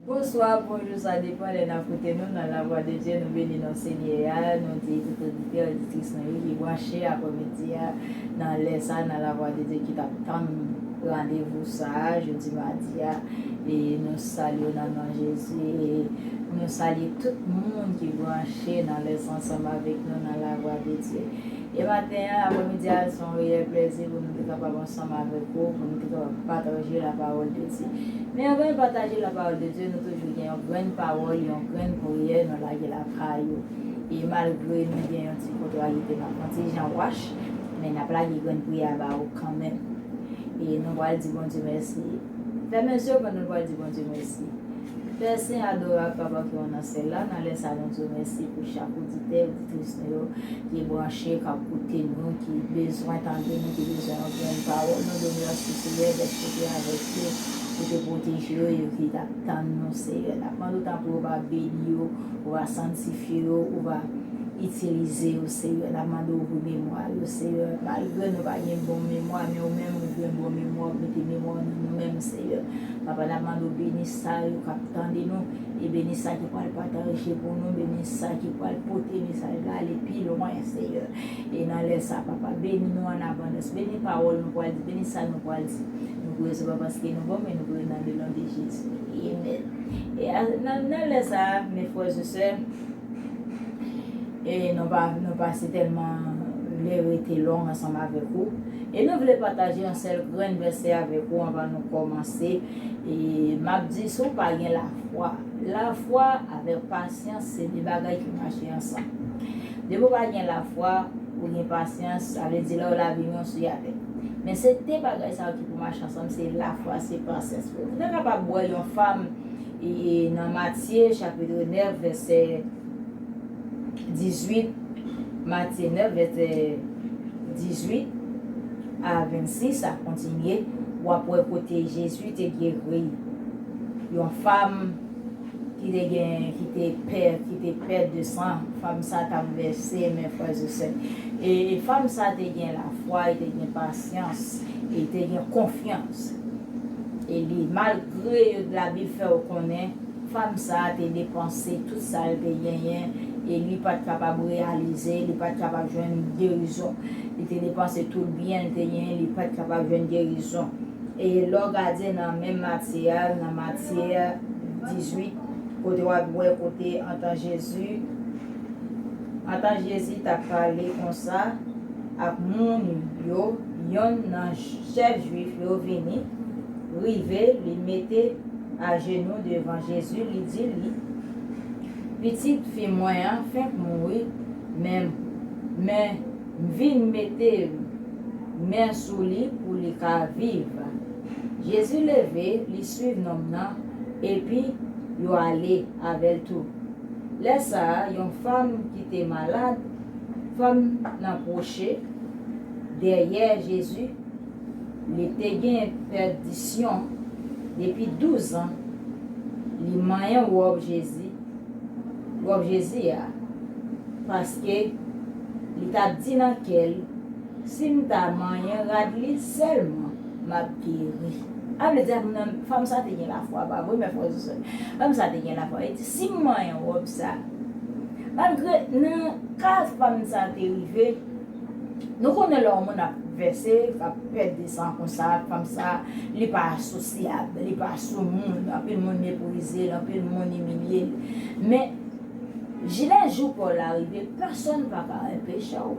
Bonswa bonjou sa depan lè nap koute nou nan la vwa de Dye nou beni non senyè a nou di tout oditè oditris nou yo ki branche aprè midi a nan lè sa nan la vwa de Dye ki tap tann randevou sa jodi madi a. E nou salye w nan non Jezi. Nou salye tout moun ki branche nan lès ansanm avèk nou nan lavwa de Dye. E maten an, apremidi a, se yon reyèl plèzi pou nou te kapab ansanm avèk ou, pou nou te kapab pataje lapawòl de Dye. Men anvan nou pataje lapawòl de Dye, nou toujou gen yon grenn pawòl, yon grenn priyè nou lage lakay ou. E malgre nou gen yon ti kontrariyete, n ap pran ti jan wach, men n ap lage grenn priyè a ba ou kanmenm. E nou pral di Bondye mèsi. Fèmen zye w pandan nou pral di Bondye mèsi. Pè Sen, Adorab, Papa ki ou nan Syèl la, nan lè sa nou di w mèsi pou chak oditè, oditris nou yo ki branche, k ap koute nou, ki bezwen tande nou, ki bezwen yon grenn pawòl. Nou di w mèsi, Seyè, dèske ou te avèk yo, ou te pwoteje yo, yo ki t ap tann nou, Seyè. N ap mande w tanpri ou va beni yo, ou va santifye yo, ou va. Itilize yo Seyè nap mande w pou memwa yo Seyè malgre nou pa gen bon memwa men ou menm ou gen bon memwa ou mete memwa w nan nou menm Seyè papa nap mande w beni sa yo kap tande nou e beni sa ki pral pataje pou nou beni sa ki pral pote mesaj la ale pi lwen Seyè e nan lè sa papa beni nou an abondans beni pawòl nou pral di beni sa nou pral di nou priye se pa paske nou bon men nou priye nan le non de Jezi amen e nan lè sa mes frères et sœurs e nou pa si tèlman vle rete long ansanm avèk ou, e nou vle pataje yon sèl grenn vèsè avèk ou anvan nou kòmanse, e m ap di si w pa gen lafwa. Lafwa avèk pasyans se de bagay ki mache ansanm. Depi w pa gen lafwa, ou gen pasyans, sa vle di lè w la vini w sou yatè. Men se de bagay sa yo ki pou mache ansanm, se lafwa, se pasyans. Ou ta kapab wè yon fam. e nan Matye chapitre 9 vèsè 18, Matye 9 vèsè 18 a 26 sa kontinye, w ap wè kote Jezi te geri yon fam ki te gen, ki te pè, ki te pè de san, fam sa t ap vèse, men frèzesè, e fam sa te gen lafwa, e te gen pasyans, e te gen konfyans. e li malgre yo t labil fèw konnen fanm sa te depanse tout sal te genyen e li pat kapab reyalize li pat kapab jwenn gerizon li te depanse tout byenl te genyen li pat kapab jwenn gerizon e lèw gade nan menm Matye a nan Matye 18 kote wap wè kote antan Jezi antan Jezi tap pale konsa ak moun yo. Yonn nan chèf Jwif yo vini, rive, li mete ajenou devan Jezi, li di li, Pitit fi mwen an fenk mouri, men, men, m vin mete men sou li pou li ka viv. Jezi leve, li swiv nonm nan, epi yo ale avè l tou. Lè sa a, yon fanm ki te malad, fanm nan pwoche, dèyè Jezi, li te gen pèdisyon depi douzan, li manyen wòb Jezi, wòb Jezi a, paske li t ap di nan kè l, Si m ta manyen rad li sèlman, m ap geri. Sa vle di a nan, fanm sa te gen lafwa, pa vre, mè frè ak sè? Fanm sa te gen lafwa, li di, Si m manyen wòb sa, malgre nan ka fanm sa te rive, Nou konnen lè yon moun ap vèse, ap pèdi san konsa ak fanm sa, li pa sosyab, li pa soumoun, anpil moun meprize l, anpil moun imilye l. Men, ji lè jou pa w la rive, pèsonn pa ka anpeche w.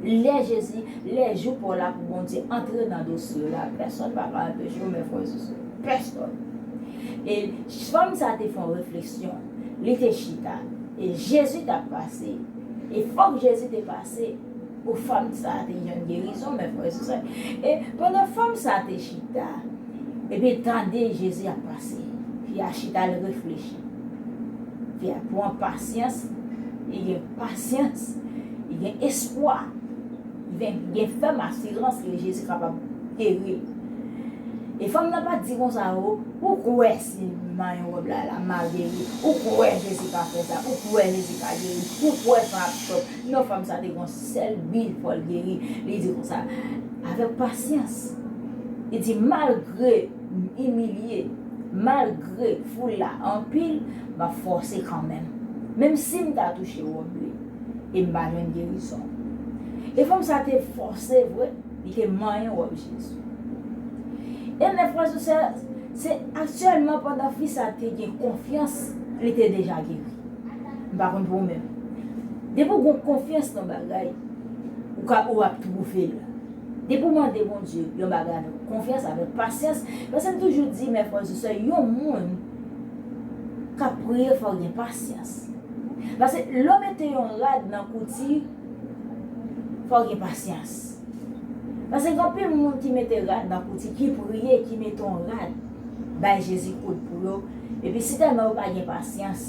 Lè Jezi, lè jou pa w la pou Bondye antre nan dosye w la, pèsonn pa ka anpeche w men frè sou sè. Pèsonn. E fanm sa te fè yon refleksyon, li te chita, e Jezi t ap pase. E fòk Jezi te pase pou fanm sa a te jwenn gerizon, mè frè e sè. E pandan fanm sa a te chita, epi l tande Jezi ap pase, fi a chita l reflechi. Fi a pran pasyans, li gen pasyans, li gen espwa, li gen fèm asirans ke Jezi kapab geri l. E fanm nan pa t di konsa, O, ou kwè Ti manyen rob la la maguery ou kwe jezi pa fe sa ou kwe jezi pa geri ou kwe fan ap chòt non fanm sa te gon sel bi fol geri li di konsa avek pasyans li di malgre m imilye malgre foul la anpil map fose kanmenm menm sim ta touche rob li em pa jwenn gerizon e fanm sa te fose vre. Li te manyen wòb Jezi. E mè frè ou sè, se sèlman pandan fi sa te gen konfyans li te deja geri. M pa konn pou ou menm. Depi ou gen konfyans nan bagay, ou ka ou ap twouve l. Depi ou mande Bondye yon bagay avèk konfyans, avèk pasyans, paske m toujou di mè frè ou sè, yon moun k ap priye fò l gen pasyans. Paske lè ou mete yon rad nan kouti. Fòw gen pasyans. Pase gen anpil moun ki mete rad nan kouti ki priye ki mete yon rad bay Jezi koud pou yo epi si tèlman yo pa gen pasyans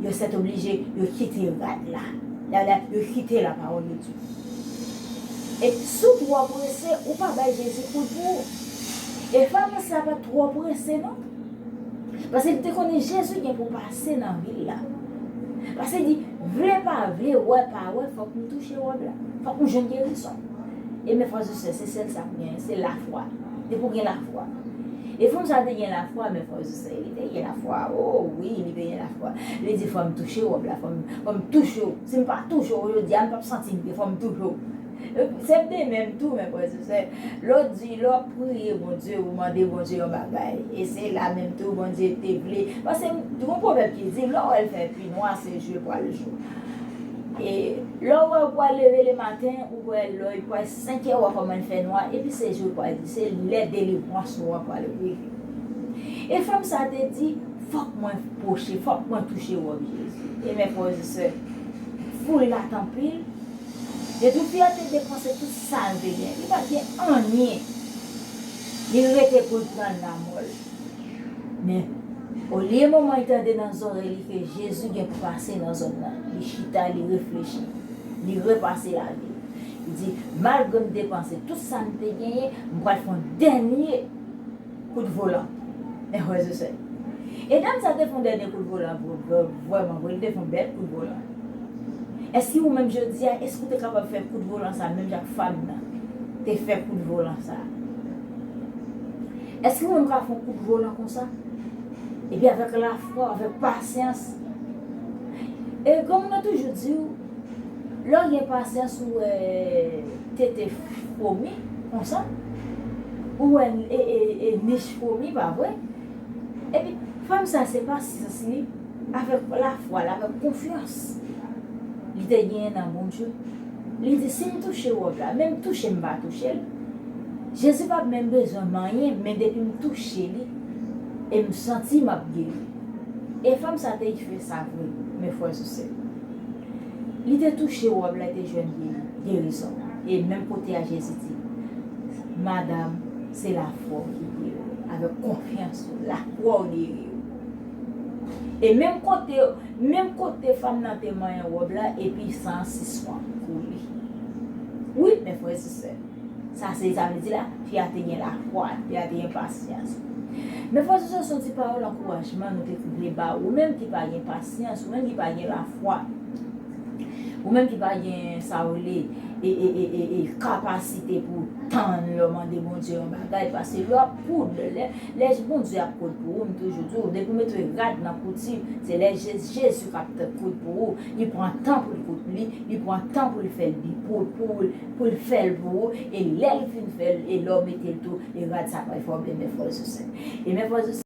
yo sètoblije yo kite rad la la la yo kite la pawòl de Dye. E sou twò prese ou pa bay Jezi koud pou ou. E fanm sa pat twò prese non. Pase li te konnen Jezi gen pou Se nan vil la. Pase di, vle pa vle, wè pa wè, fòk nou touche wòb la. Fòk nou jwenn gerizon. E men frè e sè, se sèl sa k genyen, se lafwa. Depi w gen lafwa. E fanm sa te gen lafwa, men frè e sè, li te gen lafwa. O, wi, li te gen lafwa. Li di, fò m touche wòb la, fò m touche w. Si m pa touche w jodi a, m p ap santi m byen, fò m touche w. Se de menm tou men frè se sè lè w di lè w ap priye Bondye ou mande Bondye yon bagay e se la menm tou Bondye te vle paske gon pwovèb ki di lè w wè l fè pi nwa se je pral jou e lè w wè ou pral leve le maten ou wè lè li pral 5 è ou wè kòman li fè nwa epi se jou pral di se lè delivrans ou an pral rive e fanm sa te di fòk mwen pwoche fòk mwen touche wòb Jezi e men frè se sè foul la t anpil. Depi Pierre te depanse tout sal te gen li pat gen anyen li rete poul pran lamòl men olye manmanl tande nan zòrèy li ke Jezi gen pou pase nan zòn nan li chita li reflechi li repase lavil li di malgrem depanse tout sam te genyen mpral fon dènye Kout volan. Meh wè ze sèl. E dam sa te fon dènye kout volan vre vrèman vre li te fon bèl kout volan. Eske ou menm jodia eske ou te kapab fè kout volan sa menm jan ak fanm nan te fè kout volan sa. Eske ou menm ka fon kout volan konsa epi avèk lafwa avèk pasyans e kòm mwen toujou diw. Lè w gen pasyans ou wè tete fwomi konsa, ou wè nich fwomi pa vre? Epi fanm sa se pasyans li avèk lafwa l avèk konfyans li te genyen nan Bondye, li di si m touche wòb la, menm touche m pa touche l, Jezi p ap menm bezwen m anyen men depi m touche li e m santi m ap geri. E fanm sa te fè sa vre men frè m ak sè m. Li te touche wòb la e te jwenn gerizon. E menm kote a Jezi di, Madam, se lafwa w ki geri w. Avèk konfyans ou, lafwa w geri w. E menm kote, menm kote fanm nan te manyen wòb la, epi san an sispann koule. Wi, men frè e sè. Sa se sa vle di la, fi a te gen lafwa, fi a te gen pasyans. Men frè sou sè son ti pawòl ankourajman nou te vle ba ou menm ki pa gen pasyans, ou menm ki pa gen lafwa, ou menm ki pa gen sa ou rele e kapasite pou ou tann lè ou mande Bondye yon bagay pase lè wap koud, lè Bondye ap koud pou ou m toujou di ou depi ou mete rad nan kouti se lè Jezi kap koud pou ou, li pran tan pou l koud li, li pran tan pou l fè l bi pou ou. Poul fèl pou ou e lèl fin fèl e lèw metel tou e rad sa pral fè ou byen men fòl sou sèn e men fòl sou sèn.